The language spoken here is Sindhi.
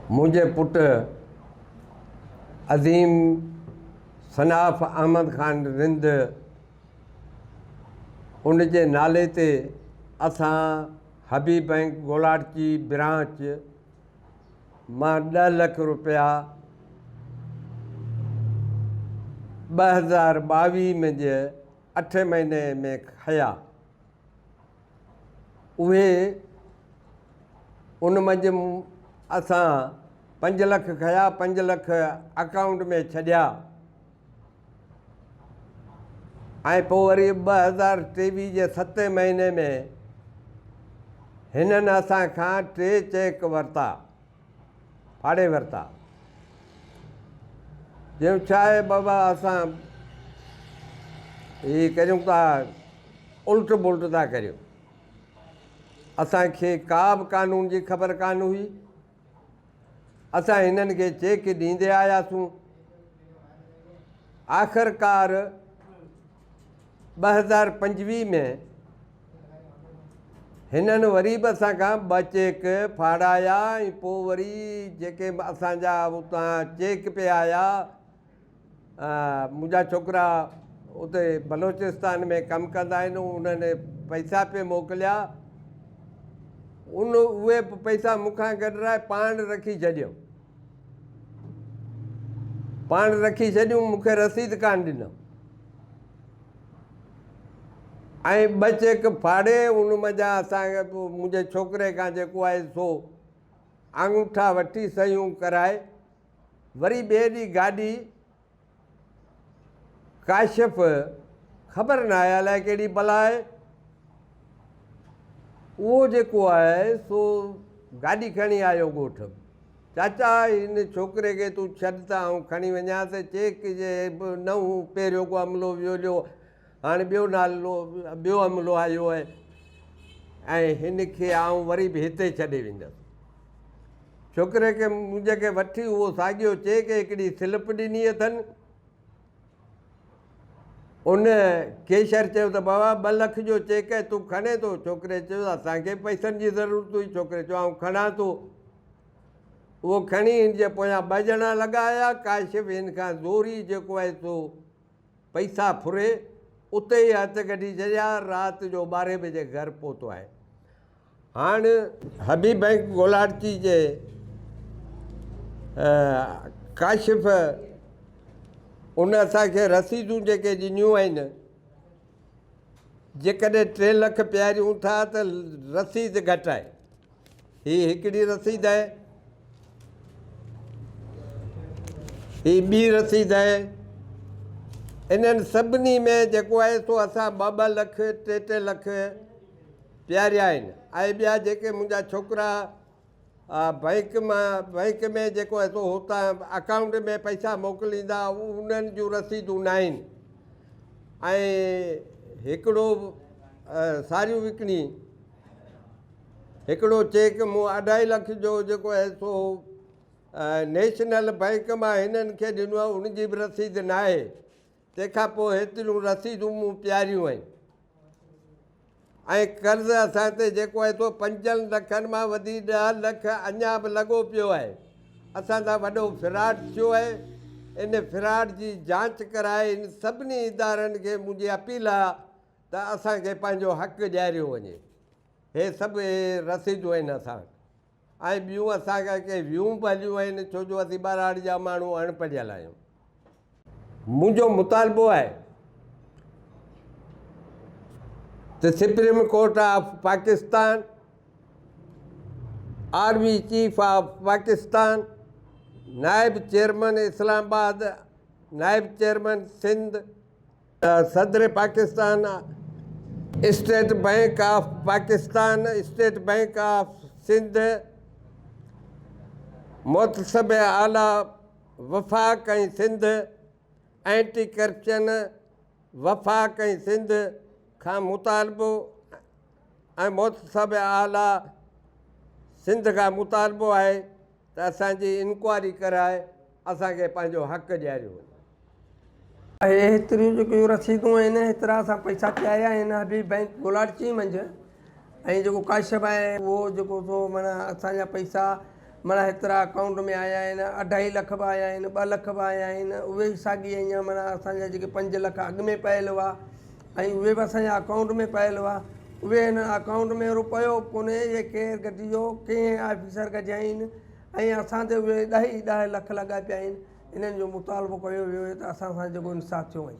منهنجي پٽ عظيم صنعاف احمد خان رند ان جي نالي تي اسان حبيب بئنڪ گولاٽچي برانچ مان ڏهه لک روپيا ٻه هزار ٻاويهه ۾ جي اٺ مهيني ۾ کنيا اهي ان منجهه اسان پنج لک کنيا پنج لک اڪائونٽ ۾ ڇڏيا ۽ پوء وري ٻه هزار ٽيويهه جي ستين مهيني ۾ هنن اسان کان ٽي چيڪ ورتا ڦاڙي ورتا. چيو ڇا اي بابا اسان هي ڪريون ڪا الٽ بلٽ ٿا ڪريون. اسان کي ڪا به قانون جي خبر ڪانه هئي. اسان هنن کي چيڪ ڏيندي آياسون. آخرڪار ٻه هزار پنجويهه ۾ هنن وري به اسان کان ٻه چيڪ ڦاڙايا ۽ پوء وري جيڪي اسان جا اتان چيڪ پئي آيا منهنجا ڇوڪرا اتي بلوچستان ۾ ڪم ڪندا آهن انهن پئسا پئي موڪليا ان اهي پئسا مون کان گڏرائي پاڻ رکي ڇڏيو پاڻ رکي ڇڏيون مون کي رسيد ڪانه ڏنم ۽ ٻه چيڪ ڦاڙي ان منجهان اسان منهنجي ڇوڪري کان جيڪو آهي سو آڱوٺا وٺي صحيحون ڪرائي وري ٻئي ڏينهن گاڏي ڪاشف، خبر ناهي الائي ڪهڙي بلا آهي. اهو جيڪو آهي سو گاڏي کڻي آيو ڳوٺ. چاچا هن ڇوڪري کي تون ڇڏ ته آئون کڻي وڃان ته چيڪ جي به نه هو پهريون ڪو عملو ويوليو. هاڻي ٻيو نالو ٻيو عملو آيو آهي ۽ هن کي آئون وري به هتي ڇڏي ويندس. ڇوڪري کي منهنجي کي وٺي اهو ساڳيو چئي کي هڪڙي سلپ ڏني اٿن. ان ڪيشر چيو ته بابا ٻه لک جو چيڪ آهي تون کڻين ٿو؟ ڇوڪري چيو اسان کي پئسن جي ضرورت هئي. ڇوڪري چيو آئون کڻان ٿو. اهو کڻي هن جي پويان ٻه ڄڻا لڳا آيا. ڪاشف هن کان زوري جيڪو آهي سو پئسا ڦري اتي ئي هٿ ڪڍي ڇڏيا، رات جو ٻارهين بجي گهر پهتو آهي. هاڻ حبيب بئنڪ گولاڙچي جي ڪاشف ان اسان کي رسيدون جيڪي ڏنيون آهن جيڪڏهن ٽي لک پياريون ٿا ته رسيد گهٽ آهي. هي هڪڙي رسيد آهي. هي ٻي رسيد آهي. انهن سڀني ۾ جيڪو آهي سو اسان ٻه ٻه لک ٽي ٽي لک پياريا آهن ۽ ٻيا جيڪي منهنجا ڇوڪرا بئنڪ مان بئنڪ ۾ جيڪو آهي سو هتان اڪائونٽ ۾ پئسا موڪليندا انهن جون رسيدون نه آهن ۽ هڪڙو ساريون وڪڻي هڪڙو چيڪ مون اڍائي لک جو جيڪو آهي سو نيشنل بئنڪ مان هنن کي ڏنو آهي ان جي به رسيد ناهي تنهن کان پوء هيتريون رسيدون مون پياريون آهن ۽ قرض اسان تي جيڪو آهي سو پنجن لکن مان وڌي ڏهه لک اڃا به لڳو پيو آهي اسان سان وڏو فراڊ ٿيو آهي ان فراڊ جي جانچ ڪرائي ان سڀني ادارن کي منهنجي اپيل آهي ته اسان کي پنهنجو حق ڏياريو وڃي. هي سڀ رسيدون آهن اسان وٽ ۽ ٻيون اسان کان ڪي ويون به هليون آهن ڇو جو اسين ٻهراڙي جا ماڻهو اڻ پڙهيل آهيون. منهنجو مطالبو آهي ته supreme court of Pakistan, army chief of Pakistan, نائب چيئرمن اسلام آباد، نائب چيئرمن سنڌ، صدر Pakistan state bank of Pakistan, state bank of Sindh, محتسب اعليٰ وفاق ۽ سنڌ، اينٽي ڪرپشن وفاق ۽ سنڌ کان مطالبو ۽ محتسب اعليٰ سنڌ کان مطالبو آهي ته اسان جي انڪوائري ڪرائي اسان کي پنهنجو حق ڏياريو وڃي. اهي هيتريون جيڪيون رسيدون آهن هيترا اسان پئسا چاهيا آهن حبيب بئنڪ بولاڙچي منجهه ۽ جيڪو ڪاشف آهي اهو جيڪو سو معنيٰ اسان جا پئسا معنيٰ هيترا اڪائونٽ ۾ آيا آهن اڍائي لک به آيا آهن ٻه لک به آيا آهن اهي ساڳي اڃان معنيٰ اسان جا جيڪي پنج لک اڳ ۾ پيل هئا ۽ اهي به اسان جي اڪائونٽ ۾ پيل هئا اهي هنن اڪائونٽ ۾ روپيو به ڪونهي اهي ڪير گڏجيو ڪئين آفيسر گڏجائين ۽ اسان تي اهي ڏهه ئي ڏهه لک لڳا پيا آهن انهن جو مطالبو ڪيو ويو ته اسان سان جيڪو انصاف ٿيو وڃي.